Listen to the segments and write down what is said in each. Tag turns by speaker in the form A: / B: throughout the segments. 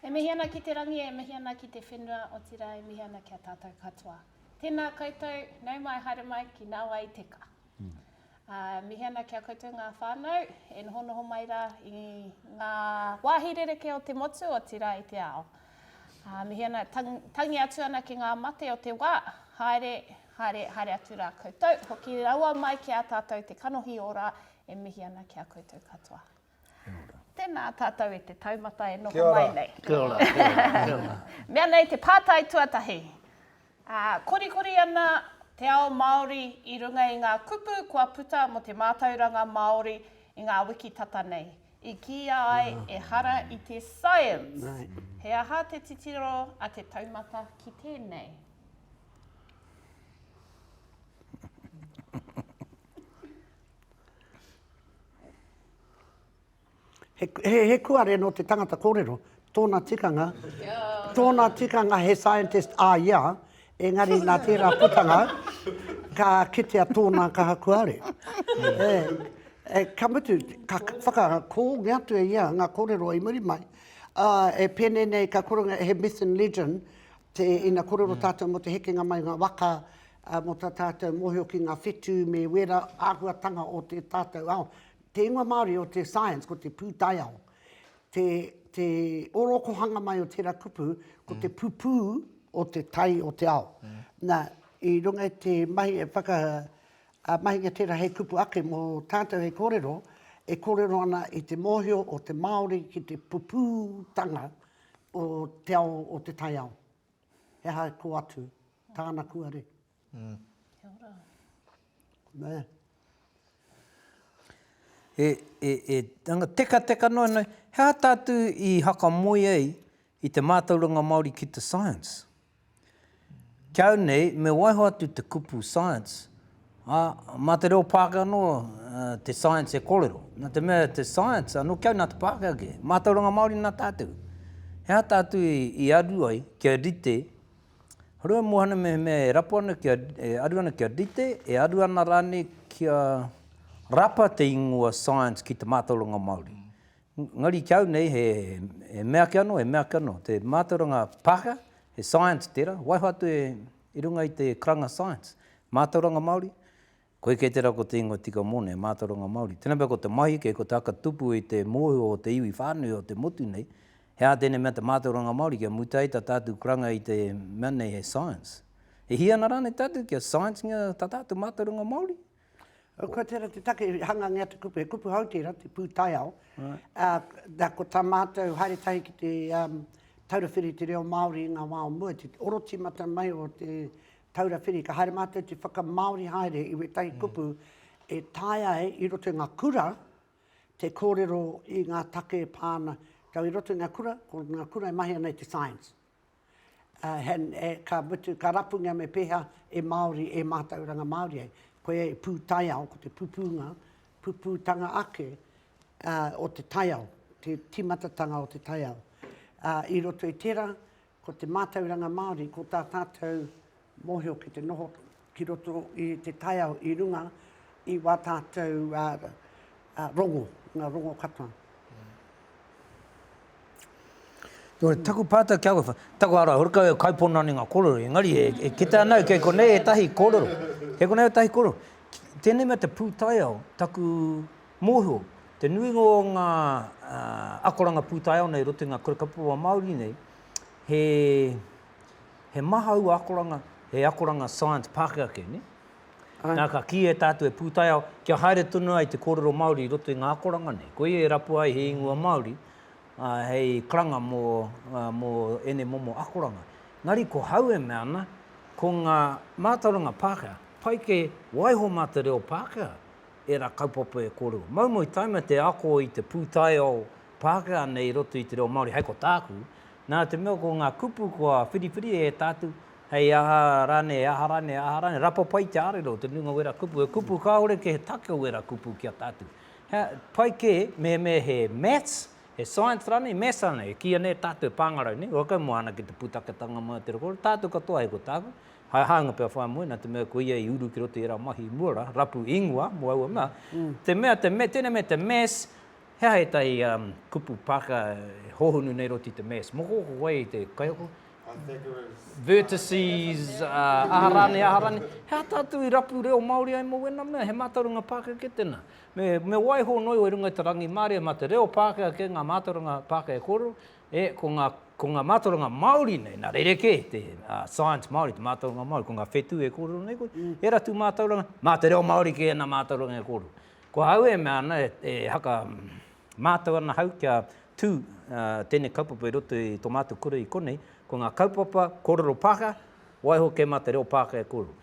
A: E mihi ana ki te rangi, e mihi ana ki te whenua, otirā e mihi ana ki a tātou katoa. Tēnā koutou, nau mai, haere mai ki nā wai i teka. Ā, mihi ana ki a koutou ngā whānau e nohonoho mai rā i ngā wāhi rerekē o te motu, otirā i te ao. Ā, mihi ana, tangi atu ana ki ngā mate o te wā, haere, haere, haere atu rā koutou, hoki rawa mai ki a tātou te kanohi ora, e mihi ana ki a koutou katoa. Kia ora. Tēnā tātou e te taumata e noho mai nei. Kia ora. Kia ora. Kia ora.
B: Kia ora. Mea nei te
A: pātai tuatahi. Ā, korikori ana te ao Māori i runga i ngā kupu kua puta mō te mātauranga Māori i ngā wiki tata nei. I kīia ai ehara i te science. He aha te titiro a te taumata ki tēnei?
B: He kuare nō te tangata kōrero. Tōna tikanga, tōna tikanga he scientist, ah yeah, engari nā tērā putanga, ka kitea tōna kaha kuare. Eh, ka mutu, ka whakakōngi atu e ia ngā kōrero i muri mai, ah, e pēnei nei, ka koronga, he myth and legend, te, ina kōrero tātou mō te hekenga mai o ngā waka, mō tā tātou mōhio ki ngā whetū me wērā āhuatanga o tē tātou ao. Te ingoa Māori o te science ko te pūtaiao. Te, te orokohanga mai o tera kupu, ko te pupū o te tai o te ao. Na, i runga i te mahi e whaka, a, mahinga tera hei kupu ake mo tatou hei korero, e korero ana i te mohio o te Maori ki te pupūtanga o te ao o te taiao. He aha ko atu tana kuare?
A: Kia
B: ora. Nē.
C: E, e, e, anga tekateka noa nei, he aha tātou i hakamoe ai i te mātauranga Māori ki te science? Kia au nei, me waiho atu te kupu science, ā, mā te reo Pākehā noa te science e kōrero. Nā te mea te science, anō kia au nā te Pākehā kē, mātauranga Māori nā tātou. He aha tātou i, i aru ai kia rite Harua Mohana mehemea e rapu ana kia, e aru ana kia rite, e aru ana rānei kia rapa te ingoa Science ki te mātauranga Māori. Engari ki au nei he, he mea ake anō, he mea ake anō. Te mātauranga Pākehā, he Science tērā, waiho atu e, i runga i te karanga Science. Mātauranga Māori, Koe kē tērā ko te ingoa tika mōna e mātauranga Māori. Tēnā pea ko te mahi kē, ko te aka tupu i te mōhio o te iwi whānui o te motu nei, he aha tēnei mea te mātauranga Māori kia mutu ai tā tātou kuranga i te mea nei he science. E hia ana rānei tātou kia science-ngia tā tātou mātauranga Māori? Ko tērā
B: te take, hangangia te kupu, he kupu hou tērā, te pūtaiao. Nā, ko tā mātou haere tahi ki te taura whiri i te reo Māori i ngā wā o mua, te oro tīmata mai o te Taura Whiri, ka haere mātou te whakamāori haere i wētahi kupu e taea ai i roto i ngā kura te kōrero i ngā take e pā ana. Tau i roto i ngā kura, ko ngā kura e mahi ana i te science. Uh, and, e, ka mutu, ka rapungia me pēhea e Māori, e mātauranga Māori ai. Koe e pū taiao, ko te pupūnga, pupūtanga ake uh, o te taiao, te timatatanga o te taiao. Uh, I roto i tērā, Ko te mātauranga Māori, ko tā tātou mōhio ki te noho ki roto i te taiao i runga i wā tātou rongo, ngā rongo katoa.
C: Nō te taku pātai kia koe, taku ara, hori kau e kaipona ana ngā kōrero, engari e, e kita ana kei konei e tahi kōrero. Kei konei e tahi kōrero. Tēnei mea te pūtaiao, taku Mōhio, te nuinga o ngā akoranga pūtaiao nei roto i ngā kura kaupapa Māori nei, he, he maha aua akoranga, he akoranga science Pākehā ake, nē? Āe. Nā, ka kīia e tātou he pūtaiao, kia haere tonu ai te kōrero Māori i roto i ngā akoranga nei. Koia e rapua ai he ingoa Māori, ā, hei karanga mō, mō ēnei momo akoranga. Engari ko hau e mea ana, ko ngā mātauranga Pākehā, pai kē, waiho mā te reo Pākehā, ērā kaupapa e kōrero. Moumou taima te ako i te pūtaiao Pākehā nei i roto i te reo Māori, hei ko tāku, nā te mea ko ngā kupu kua whiriwhiri e tātou, hei aha rānei, hei aha rānei, hei aha rānei, rapa pai te ārero o te nuinga o wērā kupu, he kupu kāore kē, he take o wērā kupu ki a tātou. He pai kē mehemea he maths, he science rānei, maths rānei, e kīia nei e tātou e pāngarau nei, whakamoana ki te pūtaketanga mai o te reo Māori, tātou katoa hei ko tāku, Hai hānga pea whai moena, te mea ko ia i uru ki roto i ērā mahi mua rā, rapu ingoa mō aua mea. Te mea, te me, tēnei mea te mass, he aha ētahi kupu Pākehā e hōhonu nei i roto i te mass? Moko, ko koe te kaiako? I think it
D: was. Vertices,
C: aha rānei, aha rānei. He aha tātou i rapu reo Māori ai mō wēnā mea? He mātauranga Pākehā kē tēnā. Me, me waiho noa iho i runga i te rangimārie, mā te reo Pākehā kē ngā mātauranga Pākehā e kōrero, E, ko ngā, ko ngā mātauranga Māori nei, nā rerekē te ā, science Māori, te mātauranga Māori, ko ngā whetū e kōrero nei koe, he ratu mātauranga, mā te reo Māori kē ana mātauranga e kōrero. Ko au e mea ana, e haka, mātau ana hau kia tū, ā, tēnei kaupapa i roto i tō mātou kura i konei, ko ngā kaupapa kōrero Pākehā, waiho kē mā te reo Pākehā e kōrero.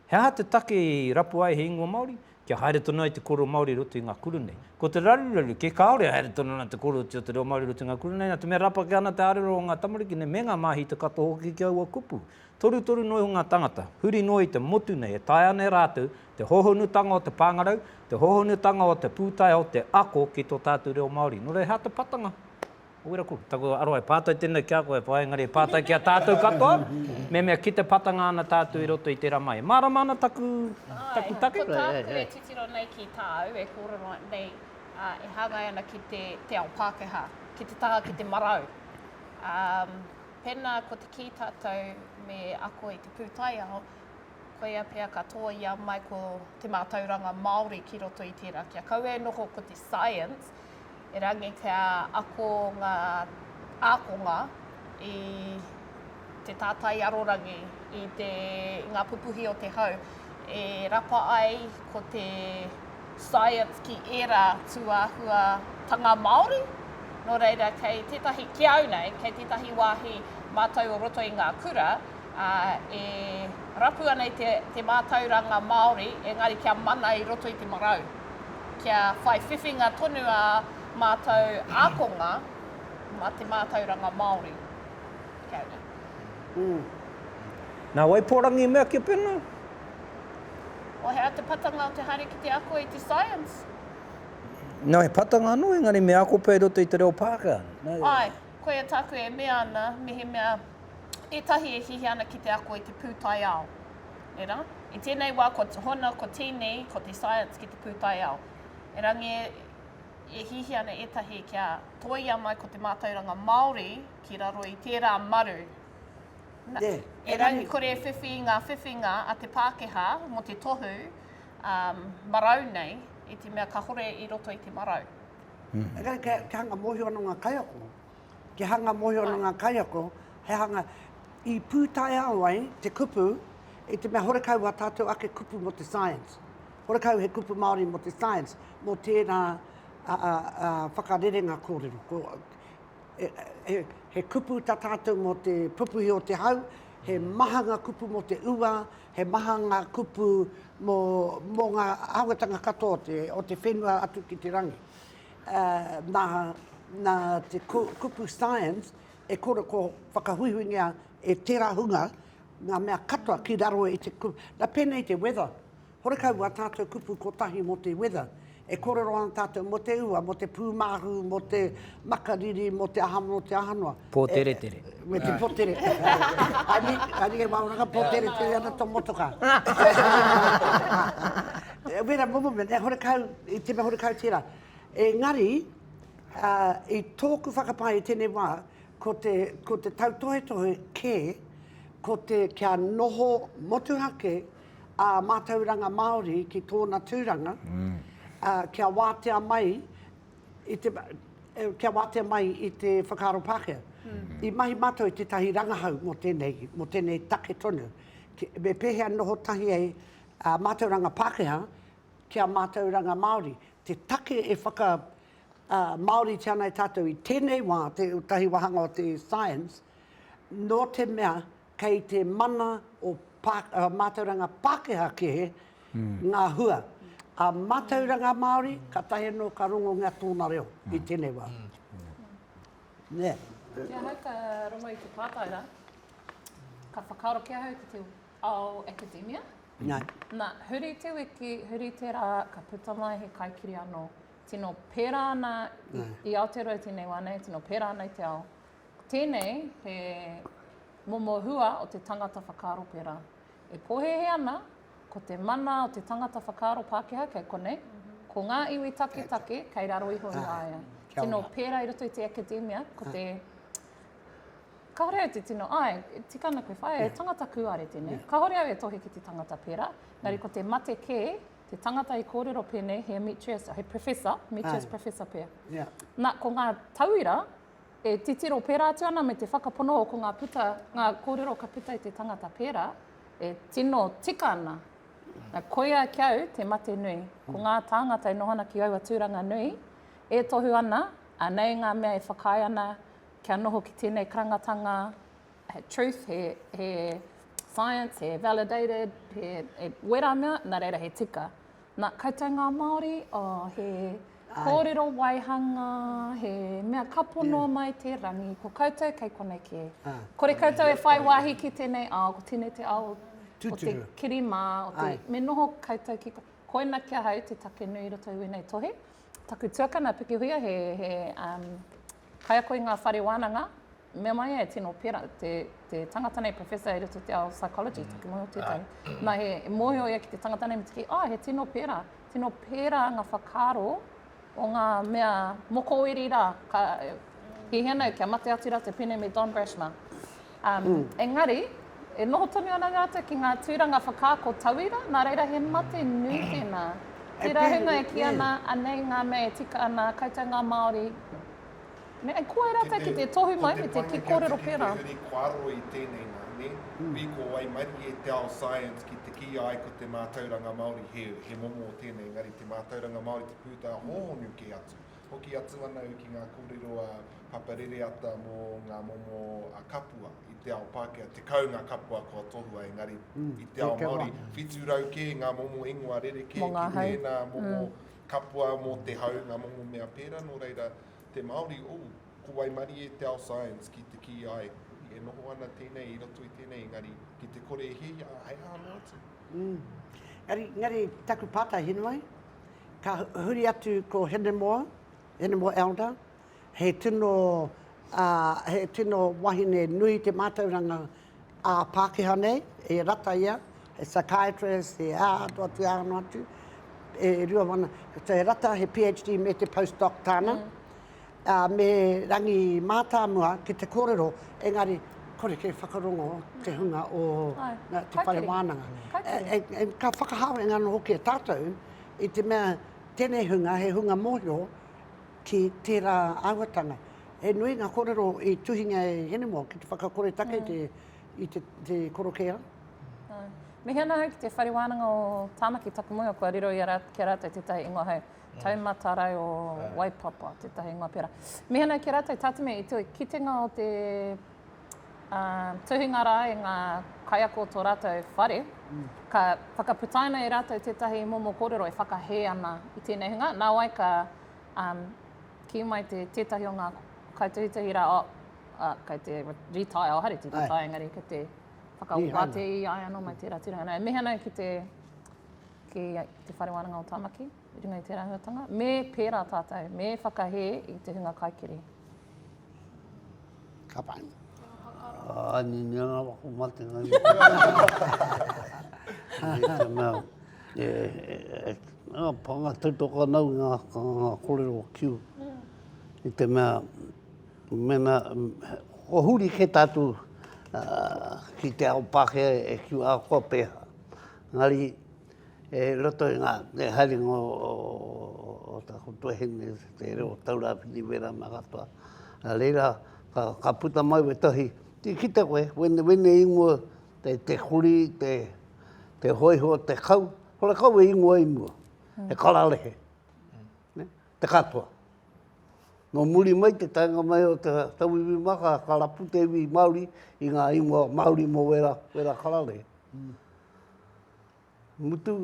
C: He aha te take i rapu ai he ingoa Māori? Kia haere tonu ai te kōrero Māori i roto i ngā kura nei. Ko te raruraru kē, kāore e haere tonu ana te kōrerotia o te reo Māori i roto i ngā kura nei, nā te mea rapake ana te ārero o ngā tamariki nei me ngā māhita katoa hoki ki aua kupu. Torutoru noa iho ngā tāngata, huri noa i te motu nei e taea ana e rātou te hōhonutanga o te pāngarau, te hōhonutanga o te pūtaiao, te ako ki tō tātou reo Māori. Nō reira, he aha te patanga? Weraku, taku aroha e pātai tēnei ki a koe, Pā, engari e pātai ki a tātou katoa, mehemea ki te patanga ana tātou i roto i tērā mahi. E mārama ana taku, taku take? Āe, ko tāku e
A: titiro nei ki tāu, e kōrero nei, ā, e hāngai ana ki te, te ao Pākehā, ki te taha ki te marau. Ā, pēnā ko te kī tātou me ako i te pūtaiao, koia pea ka tōia mai ko te mātauranga Māori ki roto i tērā kia kaua e noho ko te science, erangi kia ako ngā ākonga i te tātai arorangi, i, te, i ngā pupuhi o te hau, e rapa ai ko te science ki ērā tūāhuatanga Māori. Nō reira, kei tētahi, ki au nei, kei tētahi wāhi mātou o roto i ngā kura, ā, e rapu ana i te, te mātauranga Māori, engari kia mana i roto i te marau. Kia whai whiwhinga tonu ā mātou ākonga mā te mātauranga Māori. Kia ora. Ū.
C: Nā wai pōrangi i mea kia pēnā?
A: O hea te patanga o te haere ki te ako i te science?
C: Nā, he patanga anō, engari me ako pea i roto i te reo Pākehā. Nā. Āe. Koia
A: tāku e mea ana, mehemea ētahi e hiahia ana ki te ako i te pūtaiao. Era, i tēnei wā kua hona ko tēnei, ko te science ki te pūtaiao. Erangi e hiahia ana ētahi kia tōia mai ko te mātauranga Māori ki raro i tērā maru. Na, erangi kore e whiwhi i ngā whiwhinga a te Pākehā mō te tohu, ā, marau nei, i te mea kāore i roto i te marau.
B: Te hanga mōhio ana o ngā kaiako. Te hanga mōhio ana o ngā kaiako, he hanga i pūtaiao ai te kupu i te mea horekau wā tātou ake kupu mō te science. Horekau he kupu Māori mō te science, mō tērā whakarerenga kōrero. He kupu tā tātou mō te pupuhi o te hau, he maha ngā kupu mō te ua, He maha ngā kupu mō, mō ngā āhuatanga katoa o te, o te whenua atu ki te rangi. Nā, nā te kupu science e koroko whakahuihuingia e tērā hunga ngā mea katoa ki raro i te kupu, nā pēnei te weather, horekau wā tātou kupu kotahi mō te weather, E kōrero ana tātou mō te ua, mō te pūmāhu, mō te makariri, mō te aha, mō te aha noa. Pōteretere.
C: Me te pōtere.
B: Ari e māoranga pōteretere ana tō motoka. Wera momo mea, e horekau, i te mea horekau tērā. Engari, i tōku whakapae i tēnei wā, ko te tautohetohe kē, ko te kia noho motuhake ā mātauranga Māori ki tōna tūranga, ā, kia wātea mai i te, kia wātea mai i te whakaaro Pākehā. I mahi mātou i tētahi rangahau mō tēnei, mō tēnei take tonu. Me pēhea noho tahi ai ā mātauranga Pākehā ki ā mātauranga Māori. Te take e whaka, ā, Māoritia ana e tātou i tēnei wā, tētahi wāhanga o te science, nō te mea kei te mana o mātauranga Pākehā kē ngā hua. A mātauranga Māori, kātahi anō ka rongongia tōna reo i tēnei wā. Nē. Ki ahau
A: ka rongo i te pātai rā, ka whakaaro ki ahau ki te ao akademia. Nā. Nā,
B: huri
A: te wiki, huri te rā, ka puta mai he kaikiri anō. Tino pērā ana i Aotearoa i tēnei wā nei, tino pērā ana i te ao. Tēnei he momo hua o te tangata whakaaro pērā. E pōhēhē ana, ko te mana o te tangata whakaaro Pākehā kei konei, ko ngā iwi taketake kei raro iho i a ia. Tino pērā i roto i te akademia, ko te kāore au te tino, āe, tika ana koe whaea, he tangata kūare tēnei. Kāore au e tohe ki te tangata pērā, engari ko te mate kē, te tangata i kōrero pēnei, he Ametrius, he Professor, Ametrius Professor pea. Nā, ko ngā tauira, E titiro pērā atu ana me te whakapono ko ngā puta, ngā kōrero ka puta i te tangata pērā, e tino tika ana. Na, koia ki au te mate nui. Ko ngā tāngata e noho ana ki aua tūranga nui, e tohu ana, anei ngā mea e whakaae ana kia noho ki tēnei karangatanga, he truth, he, he science, he validated, he, he wera mea, nā reira he tika. Na, koutou nga Maori, oh, he korero waihanga, he mea ka pono mai te rangi, ko koutou kei konei ke. Kore koutou e whai wahi ki tenei ao, ko tenei te ao o te kiri ma, o te, me noho koutou ki, koina ki ahau te take nui i roto i wenei tohe. Taku tuakana, Pikihuia, he, he, um, kaiako i nga whare wananga, Mea mai e tino pera te, te tangata nei, Professor e roto i te ao psychology, toki mai o tētahi. Ah. Nā, he, e mōhio ia ki te tangata nei, me tiki, ah, he tino pera, tino pera nga whakaaro o nga mea mokoweri ra, ka, ki hea nei, kia mate atu ra te pene me Don Brashma. Um, mm. Engari, e noho tonu ana rātou ki ngā tūranga whakaako tauira, nā reira he mate nui tēnā. Te rahunga e ki ana, anei ngā mea e tika ana, koutou ngā Māori, Me ai koe rātou ki te tohu mai me te ki kōrero pērā. Ko te painga kia tuki te uri kua aro i
D: tēnei nā, nē? Ui, ko wai mahi e te ao science ki te kīia ai ko te mātauranga Māori he, he momo o tēnei, engari te mātauranga Māori te pūtea hōhonu kē atu. Hoki atu ana au ki ngā kōrero a Papa Rereata mō ngā momo a kapua. I te ao Pākehā, tekau ngā kapua kua tohua, engari i te ao Māori, whitu rau kē ngā momo ingoa rerekē ki tēnā momo Kapua mō te hau, ngā momo mea pērā, nō reira, te Māori, oh, ko waimarie te ao science ki te kī, āe, huri, e noho ana tēnei i roto i tēnei, engari, ki te kore e hiahia, ā, he aha noa atu? Engari, engari,
B: taku pātai he noa ai, ka huri atu ko Hinemoa, Hinemoa Elder, he tino, ā, he tino wahine nui te mātauranga, ā Pākehā nei, e rata ia, he psychiatrist, he ā atu atu, ā anu atu, e rua wana, so he rata, he PHD me te post-doc tāna, ā, me Rangi Mātāmua ki te kōrero, engari, kore kē whakarongo te hunga o te whare wānanga. Ka whakahāweinga anō hoki e tātou i te mea tēnei hunga he hunga mōhio, ki tērā āhuatanga. He nui ngā kōrero i tuhingia e Hinemoa ki te whakakore take i te korokēra.
A: Mihi ana ahau ki te Whare Wānanga o Tāmaki taku moe, kua riro ki a rātou tētahi ingoa hei Taumata Rae o Waipapa, tētahi ingoa pērā. Mihi ana ki a rātou, Tāteme, i te kitenga o te uh, tuhinga rā e ngā kaiako o tō rātou whare, mm. ka whakaputaina e rātou tētahi momo kōrero e whakahē ana i tēnei hunga. Nā wai ka um, kī mai te tētahi o ngā kaituhituhi rā, oh, uh, kei te retire, oh, hare te retire, engari kei te whakawāte i ai anō mai tērā tērā. Nā, e mihi ana ki te, ki te whare wānanga o Tāmaki. i runga i tērā āhuatanga, me pērā tātou, me whakahē i te hunga kaikiri.
B: Ka pai. Ai,
E: ni ni ana wako mate ngai. E, e, e, panga tautoka nau ngā, ngā korero o kiu. I te mea, mena, ko huri ke tātou uh, ki te ao Pākehā e kiu ākoa pēhā. Ngari, E roto i ngā haerenga o tāku tuahine, te reo o Taurāwhiti wērā mā katoa. Nā reira, ka puta mai wētahi, ki kite koe, wēnei ingoa, te kuri, te hōiho, te kau, hore kau e ingoa i mua, he kararehe, te katoa. Nō muri mai te taenga mai o te tauiwi māka, ka rapu te iwi Māori i ngā ingoa Māori mō wērā kararehe. Mutu,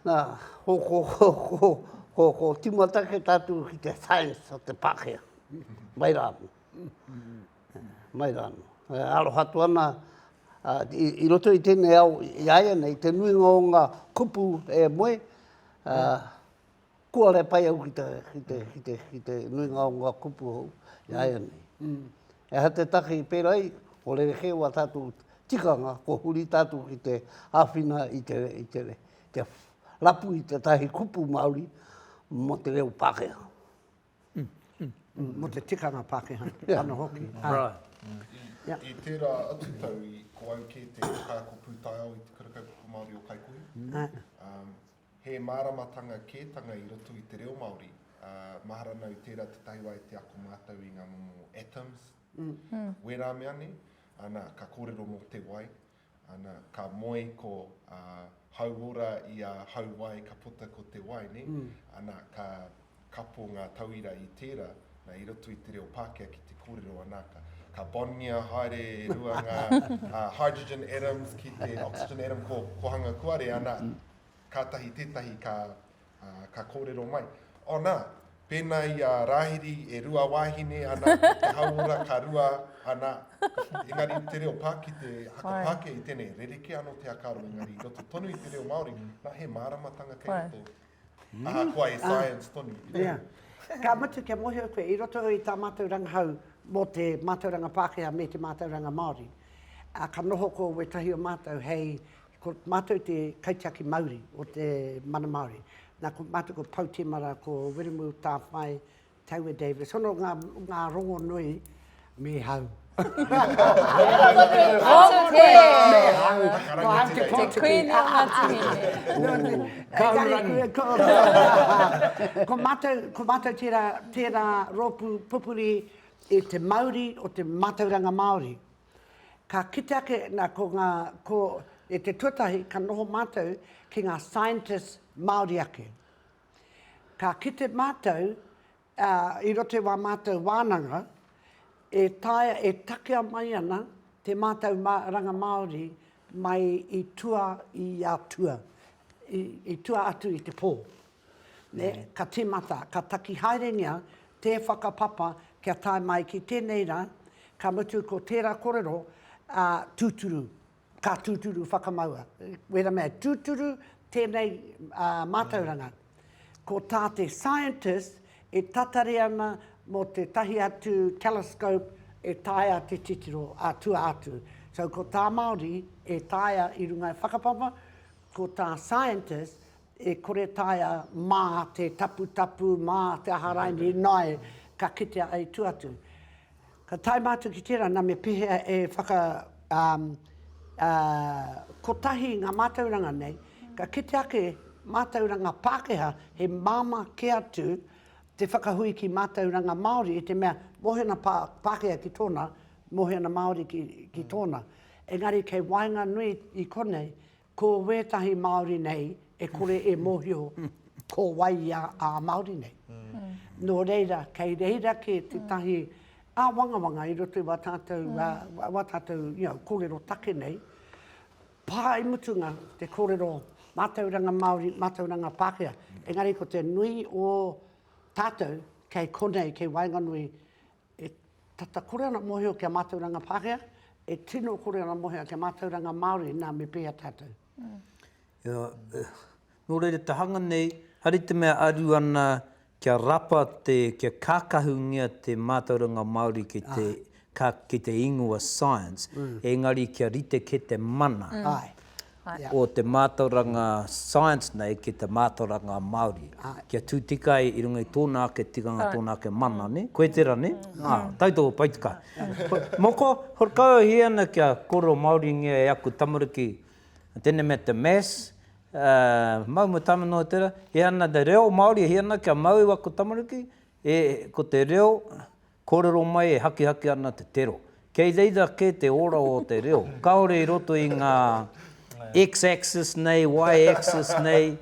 E: nā, ko, ko, ko, ko, ko, ko Timatake tātou ki te science o te Pākehā. Mai rā anō. Mai rā anō. E aroha atu ana, a, i, i roto i tēnei ao, i aia nei, te nuinga o ngā kupu e moe, a, mm. Kua re pai au ki te, ki te, ki te, ki te nuinga o ngā kupu hou, e aia nei. E aha te take i pērā ai, ko rerekē wā tātou tikanga, kua huri tātou ki te āwhina i te, i te, te rapu i tētahi kupu Māori mō te reo Pākehā.
B: Mō te tikanga Pākehā, anō hoki. Right.
C: I
B: tērā
D: atu tau, ko au kē te kaiako pūtaiao i Te Kura Kaupapa Māori o Kaikohe. He māramatanga kētanga i roto i te reo Māori, ā, mahara nā i tērā tētahi wā e te ako mātou i ngā momo atoms, wērā mea nei, ana, ka kōrero mō te wai, ana, ka moe ko, ā, hauora i a hauwai ka puta ko te wai, nē, ana, ka. kapo ngā tauira i tērā, nā, i roto i te reo Pākehā ki te kōrero anā, ka, ka bond-ngia haere e rua ngā hydrogen atoms ki te oxygen atom ko, ko hanga kuare, anā, kātahi tētahi ka, ka kōrero mai. Oh, nā, pēnā i a Rāhiri e rua wāhine, anā, ko te hauora ka rua, anā, engari te reo Pā, ki te haka Pākehā i tēnei, rerekē anō te haka aro, engari i roto tonu i te reo Māori, nā, he māramatanga kei roto Ahakoa he science tonu. Yeah. Ka
B: mutu kia mohio koe, i roto i tā mātou rangahau mō te mātauranga Pākehā me te mātauranga Māori, ā, ka noho ko wētahi o mātou hei, ko mātou te kaitiaki mauri o te mana Māori. Nā, ko mātou ko Pou Temara, ko Wiremu Tāwhai, Taue Davis, hono nga nga rongonui me hau.
F: Ko matou,
B: ko matou tera tera ropu pupuri i te mauri o te matauranga Maori. Ka kite ake na ko nga ko e te tuatahi ka noho matou ki nga scientists Maori ake. Ka kite mātou, i roto i wā mātou wānanga, e taea, e takea mai ana te mātou ranga Māori mai i tua i a tua, i tua atu i te pō. Ka tīmata, ka taki haerengia te whakapapa kia tae mai ki tēnei rā, ka mutu ko tērā korero tūturu. Ka tūturu whakamaua. Wera mea tūturu tēnei mātauranga. Ko tā te scientist e tatari ana mō tētahi atu telescope e taea te titiro ā-tua atu. So ko tā Māori e taea i runga i whakapapa, ko tā scientist e kore taea mā te taputapu, mā te aha raini, ināe ka kitea ai tua atu. Ka tae mātou ki tērā, nā me pēhea e whaka, ā, ā, kotahi i ngā mātauranga nei, ka kite ake mātauranga Pākehā he māmā kē atu te whakahui ki mātauranga Māori i te mea mōhena Pā, Pākehā ki tōna, mōhena Māori ki, ki tōna. Engari kei waenganui i konei, Ko wētahi Māori nei e kore e mōhio ko wai ia ā Māori nei. Nō reira, kei reira kē tētahi āwangawanga i roto i wā tātou, wā tātou, you know, kōrero take nei, pā i mutunga te kōrero mātauranga Māori, mātauranga Pākehā. Engari ko te nui o tātou kei konei, kei waenganui E tata kore ana mohio ki a mātauranga Pākehā, e tino kore ana mohio ki a mātauranga Māori, nā, me pēhea tātou? Ia,
C: nō reira te hanga nei, hari te mea aru ana kia rapa te, kia kākahungia te mātauranga Māori ki te, ki te ingoa science, engari kia rite kē te mana. o te mātauranga science nei ki te mātauranga Māori, kia tū tika ai i runga i tōna ake tikanga, tōna ake mana, nē? Koe tērā, nē? Ā, tautoko pai te kaha. Moko, horekauhia ana kia kōrero Māoringia e aku tamariki tēnei mea te maths, mau me tāna noa tērā, he ana te reo Māori, he ana kia mau i aku tamariki, ko te reo, Kōrero mai e hakihaki ana te tero. Kei reira kē te ora o te reo, kāore i roto i ngā X-axis nei, Y-axis nei.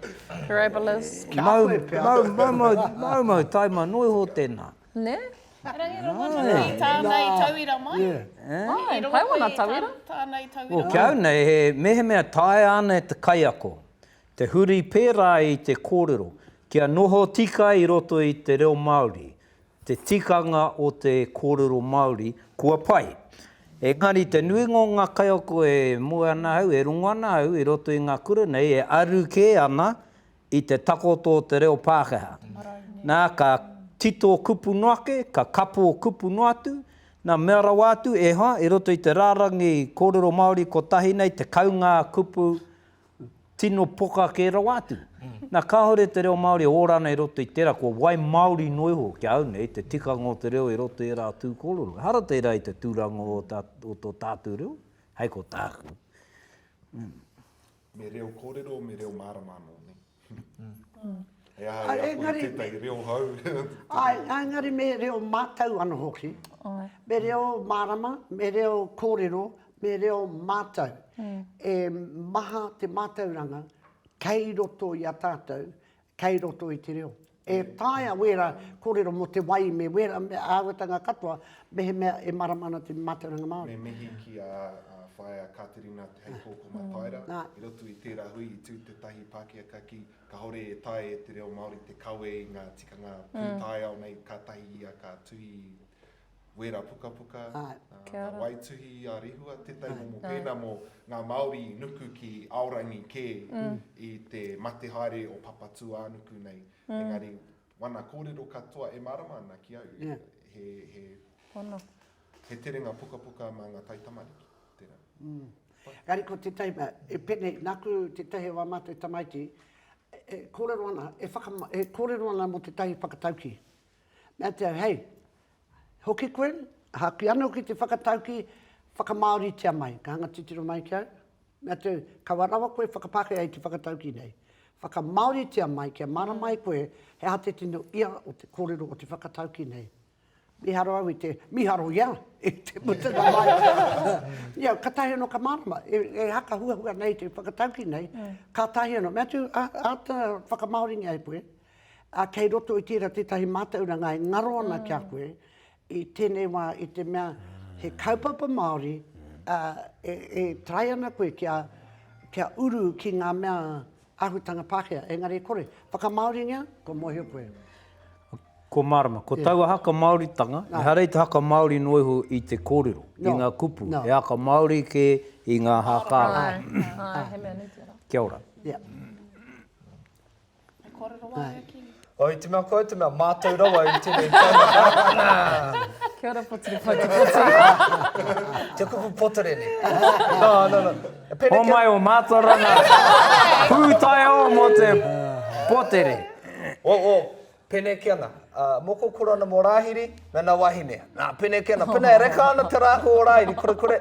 C: Parabolas. Maumau taima noa iho tēnā. Nē?
F: Rangi
A: Rongonui, tāna i tauira mai. Rangi
F: Rongonui, tāna i tauira mai. Ki
A: au nei, he
C: mehemea taea ana e te kaiako te huri pērā i te kōrero kia noho tika i roto i te reo Māori, Te tikanga o te kōrero Māori, kua pai. Engari, te nuinga o ngā kaiako e moe ana au, e rongo ana au i roto i ngā kura nei, e aru kē ana i te takoto o te reo Pākehā. Nā, ka tito kupu noa ake, ka kapo kupu noa atu, nā, mea rawa atu, e hoa, i roto i te rārangi kōrero Māori kotahi nei, 10 ngā kupu tino poka kē rawa atu. Nā, kāore te reo Māori e ora ana i roto i tērā, kua waimāori noa iho ki a au nei te tikanga o te reo i roto i ērā tū kōrero. Ehara tērā i te tūranga o tā, o tō tātou reo, hei ko tāku.
D: Me reo kōrero, me reo mārama anō, nē? He aha e ako i tētahi reo hou? Āe, engari
B: me reo mātau anō hoki. Me reo mārama, me reo kōrero, me reo mātau. E maha te mātauranga kei roto i a tātou, kei roto i te reo. E taea wēra kōrero mō te wai me wēra āhuatanga katoa mehemea e marama ana te mātauranga Māori. Me mihi ki a
D: Whaea Katerina hei kōkō mataira. I roto i tērā hui i tū tētahi Pākehā ka kī, kāore e taea e te reo Māori te kawe i ngā tikanga pūtaiao nei kātahi ia ka tuhi wera pukapuka, ngā waituhi i a Rehua, tētahi momo pēnā mō ngā Māori i nuku ki Aorangi kē i te mate haere o Papatūānuku nei. Engari, wana kōrero katoa e mārama ana ki au, he terenga pukapuka mā ngā taitamariki, tērā. Engari
B: ko tētahi mea, e pēnei, nāku tētahi o ā mātou tamaiti, e kōrero ana, e kōrero ana mō tētahi whakataukī. Mea te au, hei, hoki koe, haki ano ki te whakatauki, whakamaoritia mai, ka hanga titiro mai ki au, mea te au, kaua rawa koe whakapakea i te whakatauki nei. Whakamaoritia mai kia marama ai koe he aha te tino ia o te korero o te whakatauki nei. Miharo au i te, miharo ia, i te mutunga mai. Ia, katahi ano ka marama, e haka huahua nei te whakatauki nei, katahi ano, mea te au, ata whakamaoringia e koe, Ā, kei roto i tērā tētahi mātauranga e ngaro ana ki a koe i tēnei wā i te mea he kaupapa Māori, ā, e, e taea ana koe kia, kia uru ki ngā mea āhutanga Pākehā, engari e kore. Whakamāoringia, kua mōhio koe. Ko
C: mārama, ko taua haka Māoritanga, ehara i te haka Māori noa iho i te kōrero, i ngā kupu, he haka Māori kē i ngā hākā. Āe, āe, he mea nui tērā.
F: Kia ora. Yeah.
A: E kōrero wā ia ki. Oh, i te mea koe, i te
G: mea mātou rawa i tēnei whāinga. Kia
F: ora potiri poti poti. Te kupu
G: potere ne. No, no, no. Pene o mai
C: o Mātorana. Pūtai o mo te potere. O, o,
G: pene ki ana. Uh, moko kura ana mo Rāhiri, me na wahine. Nā, pene ki ana. Pene e reka ana te rāhu o Rāhiri, kore kore.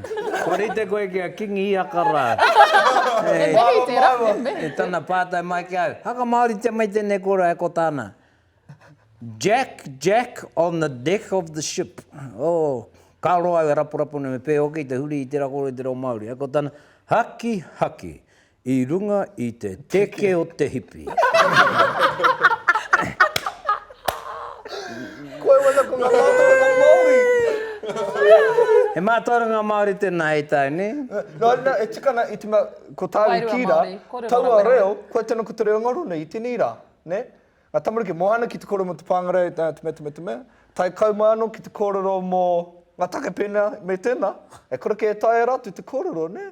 G: Kua rite koe
C: ki a Kingi Ihaka rā. He
F: mihi tērā, he mihi. E tana pātai
C: mai
F: ki
C: au, haka Māoritia mai tēnei kōrero e ko tāna, Jack, Jack on the deck of the ship, oh, ka roa au e raporapo nei me pēhoki te huri i tērā kōrero i te reo Māori, e ko tāna, Haki, haki, i runga i te teke o te hipi.
G: Koe wana ko nga mātauranga Māori.
C: He mātauranga Māori tēnā hei tāne. Nō reira, e tika
G: ana, i te mea, ko tāu i kī rā, taua reo, koia tēnā ko te reo ngaro nei i tēnei rā, nē? Ngā tamariki, moa ana ki te kōrero mō te pāngarau, te mea, te mea, te mea, tae kau mai anō ki te kōrero mō ngā take pēnei me tēnā, e kore kē e taea rātou te kōrero, nē?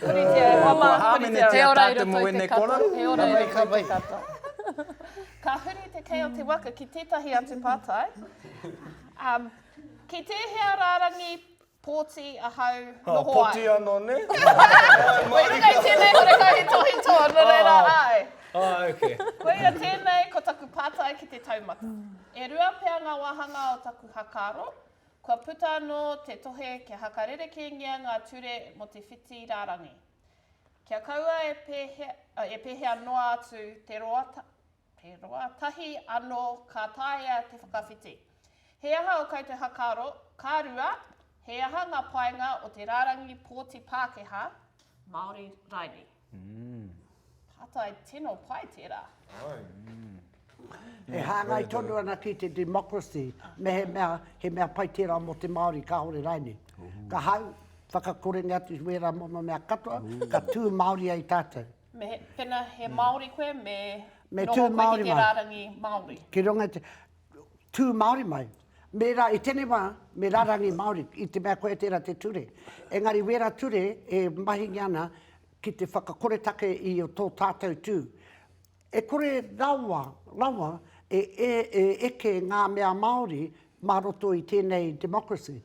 A: Puritia e hoa mā, puritia. He ora i roto i te
C: katoa. He ora i roto i te katoa.
A: Ka huri te kei o te waka ki tētahi atu pātai. Um, ki tēhea rārangi pōti ahau oh, noho oh, ai? Pōti anō,
G: ne? Wei runga
A: i tēnei hore kai he tohi tō, no reira oh. ai. Oh, okay.
G: Koe ia tēnei
A: ko taku pātai ki te taumata. E rua pea ngā wāhanga o taku hakaro, Kua puta anō te tohe kia hakarerekēngia ngā ture mō te whiti rārangi. Kia kaua e pēhea noa atu te roa, te roa tahi anō ka taea te whakawhiti. He aha o koutou hakaaro, ka rua, he aha ngā painga o te rārangi pōti Pākehā, Māori raini? Pātai tino pai tērā.
B: E hāngai tonu ana ki te democracy, mehemea he mea pai tērā mō te Māori kāore rainei. Ka hau, whakakorenga atu i wērā momo mea katoa, ka tū Māori ai tātou. Me, pena he
A: Māori koe, me noho
B: koe ki te rārangi Māori.
A: Ki runga i te,
B: tū Māori mai. Me rā, i tēnei wā, me rārangi Māori, i te mea koia tērā te ture. Engari wērā ture e mahingia ana ki te whakakoretake i tō tātou tū. E kore rawa, rawa e, e, e eke ngā mea Māori mā roto i tēnei democracy.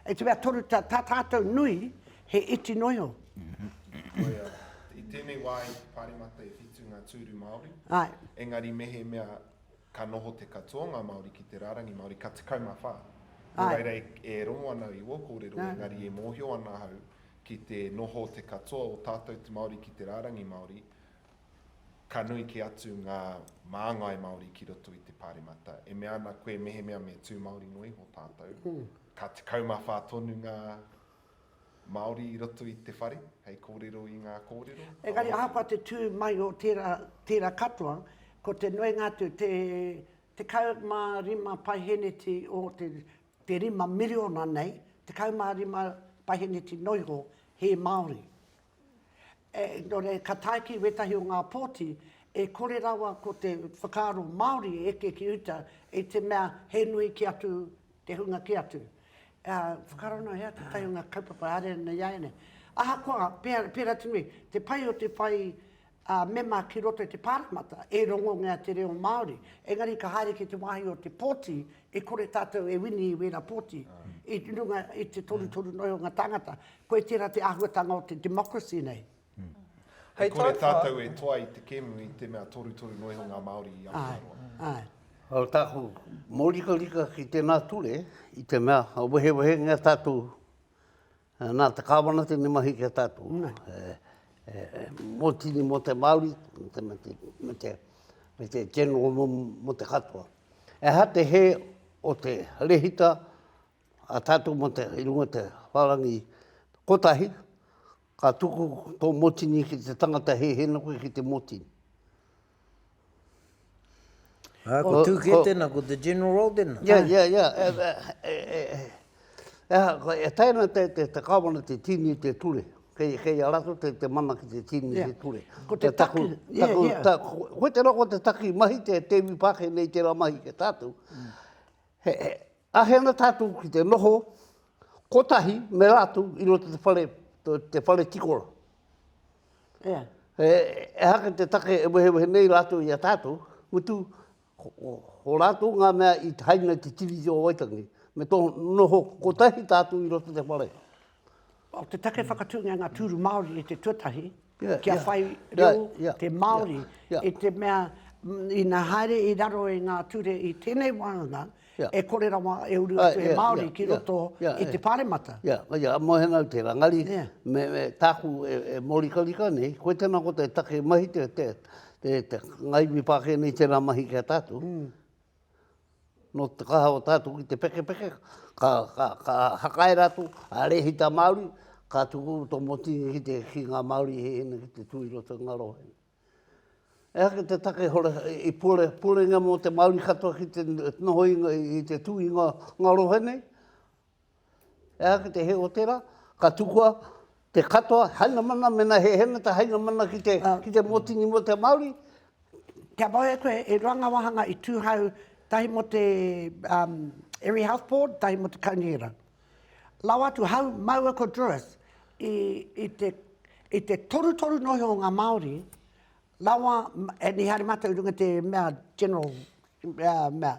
B: I te mea toru, tā tātou nui he iti noa iho.
D: Koia, i tēnei wā i te Pāremata e whitu ngā tūru Māori, engari
B: mehemea
D: ka noho te katoa o ngā Māori ki te rārangi Māori, ka 14. Nō reira e rongo
B: ana au
D: i ō kōrero, engari e mōhio ana ahau ki te noho te katoa o tātou te Māori ki te rārangi Māori, Ka nui kē atu ngā māngai Māori ki roto i te Pāremata. E mea ana koe mehemea me tū Māori noa iho tātou, ka 14 tonu ngā Māori i roto i te whare hei kōrero i ngā kōrero. Engari ahakoa te tū
B: mai o tērā, tērā katoa, ko te nuinga atu, te 15 paiheneti o te, te rima miriona nei, 15 paiheneti noa iho, he Māori. Nō reira, ka tae ki wētahi o ngā pōti, e kore rawa ko te whakaaro Māori e eke ki uta i te mea he nui kē atu te hunga kē atu. Whakaaro noa iā tētahi o ngā kaupapa haere ana i a ēnei. Ahakoa, pērā te nui, te pai o te whai ā, mema ki roto i te Pāremata, e rongongea te reo Māori. Engari ka haere ki te wāhi o te pōti, e kore tātou e wini i wērā pōti, i runga i te torutoru noi o ngā tāngata. Koe tērā te āhuatanga o te democracy nei. E
G: kore tātou e
D: toa i
G: te
D: kēmu i te mea torutoru noi o ngā Māori i Aotearoa. Ko
B: tāku
E: mōrikarika ki tēnā ture, i te mea, ka wehewehengea tātou Nā te Kāwana tēnei mahi ki a tātou. Mō tini, mō te Māori, me te general mō, mō te katoa. E aha te hē o te rehita a tātou mō te, i runga te whārangi kotahi, ka tuku tō mōtini ki te tangata hēhēna koe ki te mōtini.
C: Ā, ko Tūkē tēnā, ko te General Roll tēnā. Ia, ia, ia,
E: e aha, koe, e taea ana te, te, te Kāwana te tīni i te ture. Kei, kei a rātou te, te mana ki te tīni i te ture. Ko te taki,
B: ia, ia. Ta, ko,
E: koe tērā ko te taki mahi, te, te iwi Pākehā nei tērā mahi ki a tātou. He, he, Āhei ana tātou ki te noho kotahi me rātou i roto te whare, te whare tikora. Yeah. E, e haka te take e wehewehe nei rātou i a tātou, mutu o rātou ngā mea i haina te tiriti o Waitangi, me tō noho kotahi tātou i roto te whare. Oh, te
B: take whakatūngia ngā tūru Māori i te tuatahi, yeah, kia yeah. whai reo yeah, yeah, te Māori, yeah, yeah. i te mea ina haere i raro i ngā ture i tēnei wānanga, yeah. e kore rawa e uru atu he Māori yeah, ki roto yeah, yeah, i te pāremata. Ia, yeah. yeah. mohenau
E: te rangari, yeah. me, me tāku e, e morikarika nei, koe tēnā ko te take mahi te, te, te, te ngaiwi pākēnei tēnā mahi kia tātou, mm. Nō te kaha o tātou ki te pekepeke, ka, ka, ka hakae rātou, a rēhita Māori, ka tuku tō Motini ki te ki ngā Māori i hēhina ki te tū i roto i ngā rohe. E hake te take hore, i pore, porenga mō te Māori katoa ki te noho i, i te tū i ngā, ngā rohe nei, Ehara ki te hē o tērā, ka tukua te katoa hainamana mēnā he hēngata hainamana ki te, ki te mōtini mō te Māori. Kia
B: mau e koe, e rua ngā wāhanga i tūhau, tahi mō te Area Health Board, tahi mō te Kaunihera. Lawa atu, hau, māua ko Druas, i, i te, i te torutoru nohi o ngā Māori, lawa, and he haere mātou i runga te mea general, uh, mea,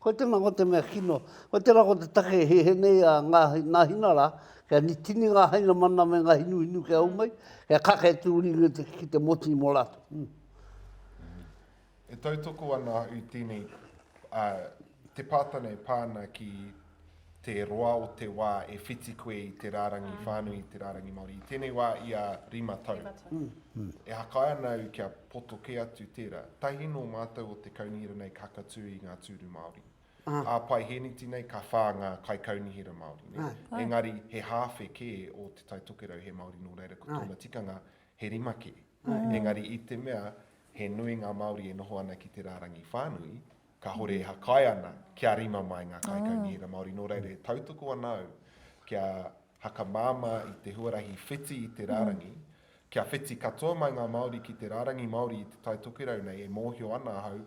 E: Koe tēnā, ko te mea kino. Koe tērā ko te take he he nei a ngā, nā hina rā, kia ni, tini ngā hainamana me ngā hinuhinu kia au mai, kia kake atu uri ngi te, ki te moti mō rātou.
D: E tautoko ana au tēnei, ā, te pātana e pā ana ki te roa o te wā e whiti koe i te rārangi whānui, i te rārangi Māori. I tēnei wā ia rima tau. E hakae ana au kia poto kē atu tērā. Tahi nō mātou o te kaunihera nei ka hakatū i ngā tūru Māori. Ā Paihēneti nei ka whā ngā kaikaunihera Māori, nē? Engari he hāwhe kē o Te Tai Tokerau he Māori nō reira ko tōna tikanga he rima kē. Engari i te mea he nui ngā Māori e noho ana ki te rārangi whānui, Kāhore e hakae ana kia rima mai ngā kaikaunihera Māori, nō reira e tautoko ana au kia hakamāmā i te huarahi whiti i te rārangi, kia whiti katoa mai ngā Māori ki te rārangi Māori i Te Tai Tokerau nei e mōhio ana ahau,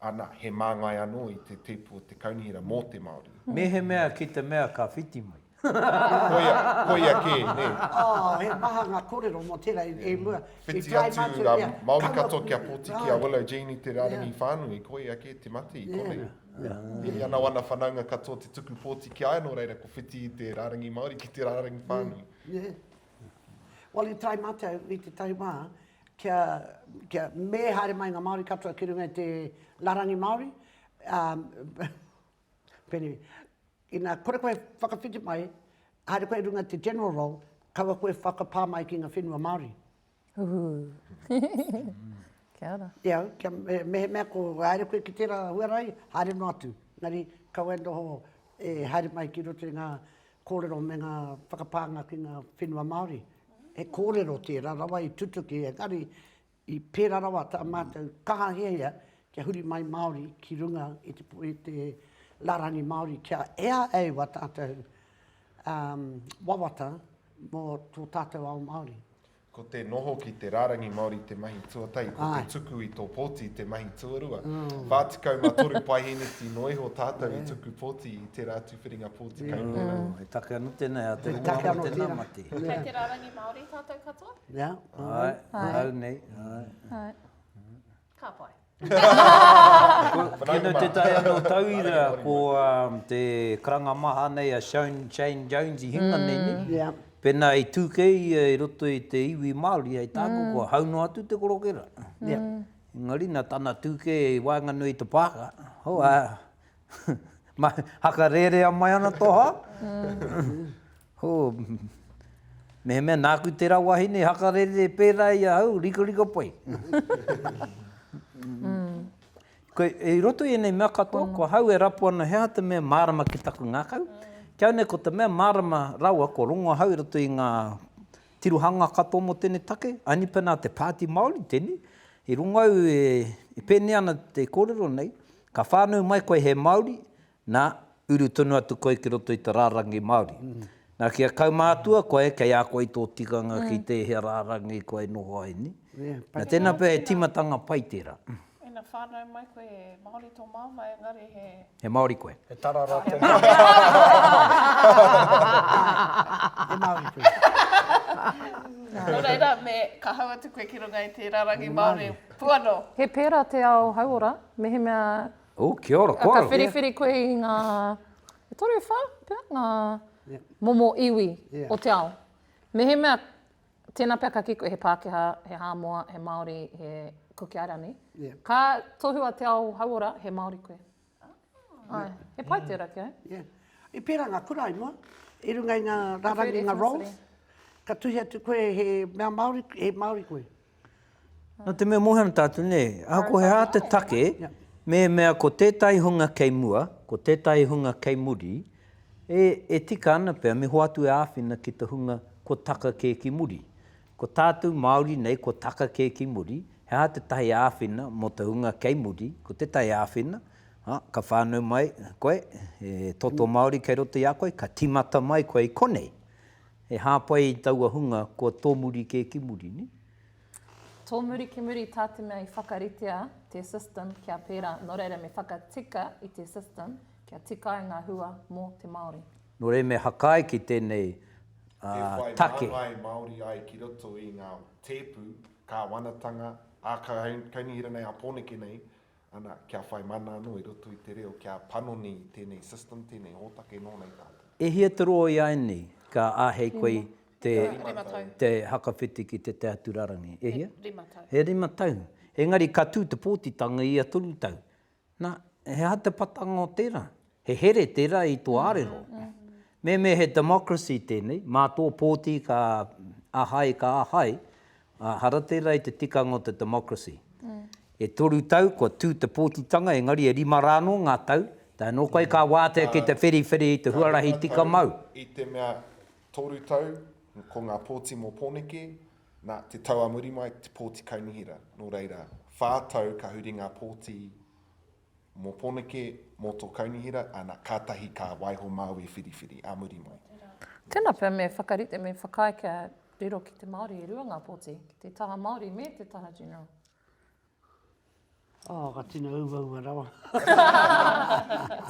D: ana, he māngai anō i te tipu o te kaunihera mō te Māori. Mehemea ki
C: te mea ka whiti mai. Koia,
D: koia kē, nē. Oh, he maha
B: ngā kōrero mō tērā i mua. Whiti atu,
D: Māori katoa kia poti ki a Willow Jean i te rārangi whānui, koia kē te mate i konei. I ana wana whanaunga katoa te tuku pōti ki a ia, nō reira ko whiti i te rārangi Māori ki te rārangi whānui. Nē.
B: Well, i try mātou i te tahi wā, kia, kia me haere mai ngā Māori katoa ki runga i te rārangi Māori, um, pene, Ina kore koe e whakawhiti mai, haere koe runga te general role, kaua koe whakapā mai ki nga whenua Maori. Uhu.
F: Kia ora. Te au, kia mehemea
B: ko haere koe ki tera huarahi, haere no atu. Engari, kaua e noho e haere mai ki roto i nga korero me nga whakapānga ki nga whenua Maori. He korero tera rawa i tutuki, engari, I pērā rawa tā mātou kaha hiahia kia huri mai Māori ki runga i te i te rārangi Māori kia ea e ua tātou um wawata mō tō tātou ao Māori. Ko te noho
D: ki te rārangi Māori te mahi tuatahi, ko te tuku i tō pōti te mahi tuarua. 43 paeheneti noa iho tātou i tuku pōti i tērā atu whiringa pōti kai tērā. He take anō tēnā,
C: he take anō tēnā mate.
B: Kei te rārangi
C: Māori
A: tātou katoa? Ae,
C: ahau nei,
A: ae. Ka pai. Tino
C: tetahi anō tauira ko te karanga maha nei a Shown Shane Jones i hinga nei ne, pēnā i tū kei ia i roto i te iwi Māori hei tāku kua hau noa atu te korokera. Engari nā tana tū kei i waenganui i te pāka, hau a, Haka rērea mai ana tō hā? Hū, mehemea nāku tērā wahine haka rērea pērā i ahau, rikarika pai. I roto i ēnei mea katoa, ko ahau e rapu ana he aha te mea mārama ki taku ngākau, kia nei ko te mea mārama rawa kua rongo ahau i roto i ngā tirohanga katoa mō tēnei take, aini pēnā te Pāti Māori tēnei, i rongo au e pēnei ana te kōrero nei, Ka whānau mai koe he Māori, nā, uru tonu atu koe ki roto i te rārangi Māori. Nā, kia kaumātua koe, kei a koe tō tikanga ki tēhea rārangi koe noho ai, nē? Nā, tēnā pea he tīmatanga pai tērā. Ina whānau
A: mai koe he Māori tō māmā, engari he. He Māori koe. He
C: tarara tō
A: māmā. He Māori koe. Nō reira, me kāhau atu koe ki runga i te rārangi Māori. Puano. He pērā te
F: ao hauora, mehemea. Ooh, kia ora
C: koutou. Ka whiriwhiri koe i ngā,
F: e toru, e whā pea ngā momo iwi o te ao. Mehemea, tēnā pea ka kī koe he Pākehā, he Hāmoa, he Māori, he Kuki Airani, ka tohua te ao hauora, he Māori koe. Aye. He pai te raki, aye. Yeah. I pērā ngā
B: kura i mua, i runga i ngā rārangi, ngā roles, ka tuhi atu koe he mea Māori, he Māori koe. Nō
C: te mea mōhio ana tātou, nē, ahakoa he aha te take, mēmea ko tētahi hunga kei mua, ko tētahi hunga kei muri, e, e tika ana pea me hoatu e āwhina ki te hunga kua taka kē ki muri. Ko tātou Māori nei kua taka kē ki muri, he aha tētahi āwhina mō te hunga kei muri, ko tētahi āwhina, a, ka whānau mai koe, he toto Māori kei roto i a koe, ka tīmata mai koe i konei, he hāpai i taua hunga kua tōmuri kē ki muri, nē?
F: Tōmuri ki muri tā te mea i whakaritea te system kia pērā, nō reira me whakatika i te system kia tika ai ngā hua mō te Māori. Nō reira me hakae
C: ki tēnei take. E whai māngai Māori
D: ai ki roto i ngā tēpu, kāwanatanga, ā-kaunihera nei, ā-pōneke nei, ana, kia whai mana anō i roto i te reo, kia panoni i tēnei system, tēnei hōtake nō nei tātou. E hia te roa i a
C: Annie ka āhei koe i te. E rima tau. Rima tau. Whakawhiti ki te Te Atura Rangi. E hia? E rima tau. E rima tau. Engari ka tū te pōtitanga i ia toru tau. Na, he aha te patanga o tera? He here tera i to arero. Meme he democracy tenei, ma to poti ka ahai, ka ahai, a hara tera i te tikanga o te democracy. E toru tau kua tu te potitanga, engari e rima ra no nga tau, tae no koe ka watea ki te whiriwhiri i te huarahi tika mau. I te mea
D: toru tau, ko nga poti mo Poneke, Nā te tau a muri mai te pōti kaunihera, nō reira, whā tau ka huri ngā pōti mō Poneke, mō tō kaunihera, ana, kātahi ka waiho Māui whiriwhiri a muri mai. Tēnā pea me
F: whakarite, me whakaae kia riro ki te Māori e rua ngā pōti, ki te taha Māori me te taha General.
B: Oh, ka tino uvaua rawa.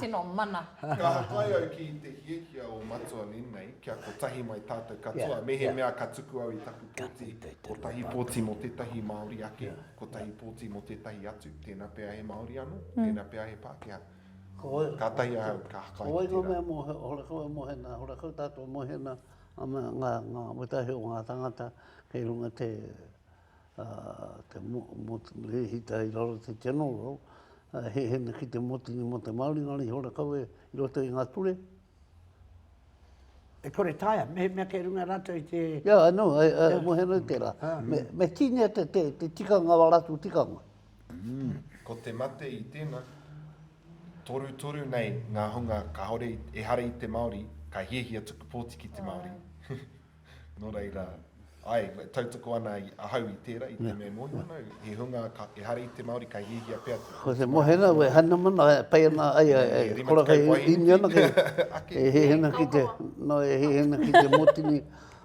B: tino
F: mana. Ka hakai au
D: ki te hiahia o Matua Nenei kia kotahi mai tātou katoa, mehemea ka tuku au i taku pōti, kotahi pōti mō tētahi Māori ake, kotahi pōti mō tētahi atu, tēnā pea he Māori anō, tēnā pea he Pākehā. Kātahi ahau ka hakai ki tērā. Ko wai ngā mea mō
E: Horakau e
D: mohe
E: ana, Horakau tātou e mohe ana, ngā wetahe o ngā tāngata kei runga te ā, te motu, he hita i raro te General, ā, he hene ki te motu nei mō te Māori, ngā rīhi ora kawe i roto i ngā ture.
B: E kore taea, me he mea kei runga rātou i te... Ia, I know, I, I,
E: mō hea nei tērā. Me, me tīnia te, te, te tikanga, ā rātou tikanga. Ko
D: te mate i tēnā, torutoru nei ngā hunga kāore, ehara i te Māori, ka hiahia tuku pōti ki te Māori. Nō reira, āe, e tautoko ana ahau i tērā, i te mea e mōhio ana au, he hunga ehara i te Māori, ka hiahia pea te Ko te mōhio ana au e
E: haina mana, e pai ana, ai, e kora kei inu ana kei, e hihina ki te, nō e hihina ki te mōtini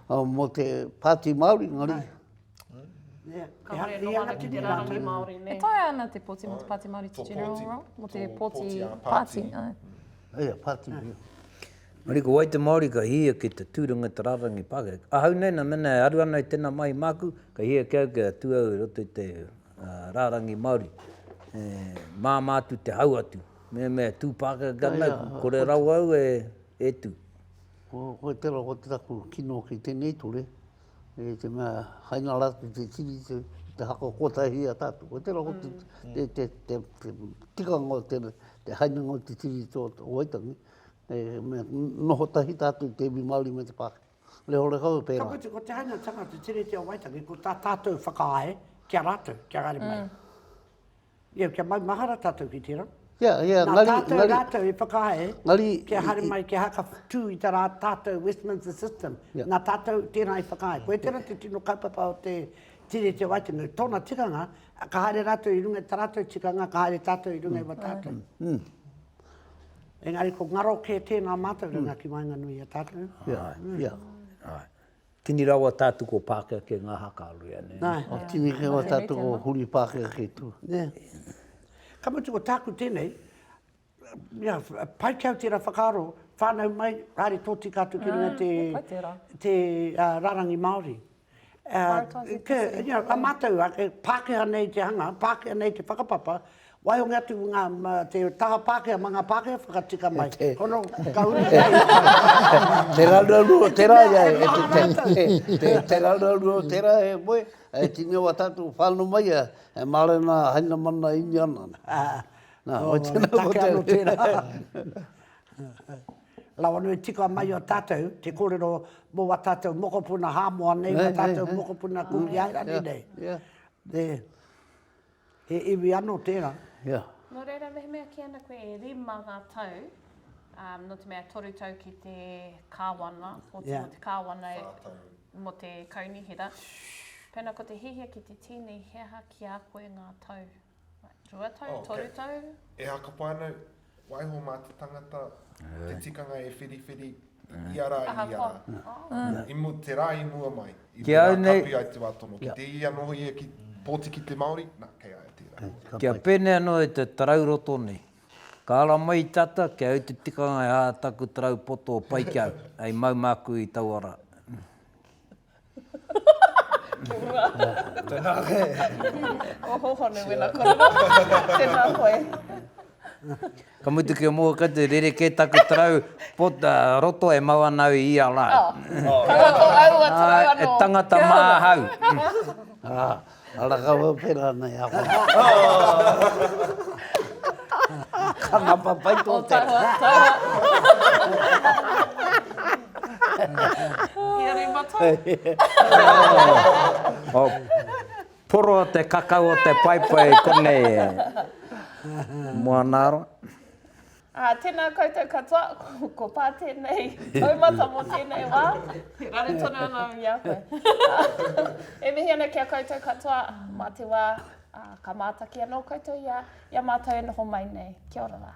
E: mō te Pāti Māori, engari.
A: Ka haere noa ana ki te rārangi Māori nei. E taea ana te pōti mō
F: te Pāti Māori te General Role? Mō te
E: pōti pāti? Ia, pāti, ia. Engari
C: ko wai te Māori ka hihia ki te tūranga i te rārangi pākehā? Ahau nei, nā mēnā e aru ana i tēnā mahi māku, ka hihia ki au kia tū au i roto i te rārangi Māori. E māmā atu te hau atu. Mea me tū Pākehā ki a nau, kore rawa au e tū. Koe
E: tērā, ko te taku kino ki tēnei ture, e te mea hai nga ratu te tini te te hako kotahi a tatu ko tera hotu te te te te tika nga o tena te hai nga o te tini to to waitangi e me noho tahi tatu te iwi maori me te pākehā le hore kau e pera. Ka mutu ko te hai nga tanga te
B: tini te o waitangi ko ta tatu whakaae kia ratu kia rari mai. Ia, kia maumahara tātou ki tērā. Ia, ia, ngari, ngari. Nā tātou rātou i whakaae ngari, kia haere mai, kia haka tū i tā rā tātou Westminster system. Ia. Nā tātou tērā i whakaae. Koe tērā te tino kaupapa o te Tīre Te Waitunu. Tōna tikanga, ka haere rātou i runga i tā rātou tikanga, ka haere tātou i runga mm. i wā tātou. Mm. mm. Engari ko ngaro kē tēnā mātou runga mm. ki waenganui a tātou. Ia, ia.
C: Tini rawa tātou ko Pākehake ngā haka a Rea, nē? Nā, tini rawa
E: tātou ko Huri Pākehake tū, nē?
B: Ka mutu ko tāku tēnei, ia, pai kē au tērā whakaaro, whānau mai, haere tōtika atu ki runga te, te rārangi Māori. Mātou, ake, Pākehā nei te hanga, Pākehā nei te whakapapa, Waihoki atu ki ngā, te taha Pākehā ma ngā Pākehā whakatika mai. Hono, ka uru ki reira.
E: Te raruraru o tērā, te raruraru o tērā e moe, e tini o a tātou whānau mai a, e Mārena Hainamana Iniana. Nā, wai
B: tēnā ko te. Take anō tērā. Rawa nui tika mai o tātou, te kōrero mō a tātou mokopuna Hāmoa nei, mō tātou mokopuna Kukiairani nei. Yeah, yeah. He iwi ano tera, ia. No reira
A: mehemea ki ana koe e rima nga tau, no te mea toru tau ki te kawana, oti mo te kawana e, mo te kaunihera, pena ko te hihia ki te tini he aha ki a koe nga tau? Rua tau, toru tau? Ehaka pai ana
D: Waiho mā te tangata, te tikanga e whiriwhiri, i a rā, i a rā. I mu, te rā i mua mai, i te rā kapi ai te wā tono. Ki te i anō hoia ki, pōti ki te Māori, nā, kei a ia tērā. Kia pēnei anō e
C: te tarau roto nei. Ka ara mai tata, kei au te tikanga e hā taku tarau poto pai ki au, hei mau māku i taua rā. Ka mutu ki a Mōkatu, rerekē taku tarau roto e mau ana au i ia rā.
A: Tangata
C: māhau.
E: Ara ka wawhi ranei a wai. Ka ngapa pai tō te rā.
A: O taua, taua. Ia rei mata.
C: O poro te kakau o te paepae konei e. Moana ara. Ā,
A: tēnā koutou katoa, ko Pā tēnei taumata mō tēnei wā, e raru tonu ana i a koe. E mihi ana ki a koutou katoa, mā te wā, ā, ka mātaki anō koutou i a, i a mātou e noho mai nei. Kia ora rā.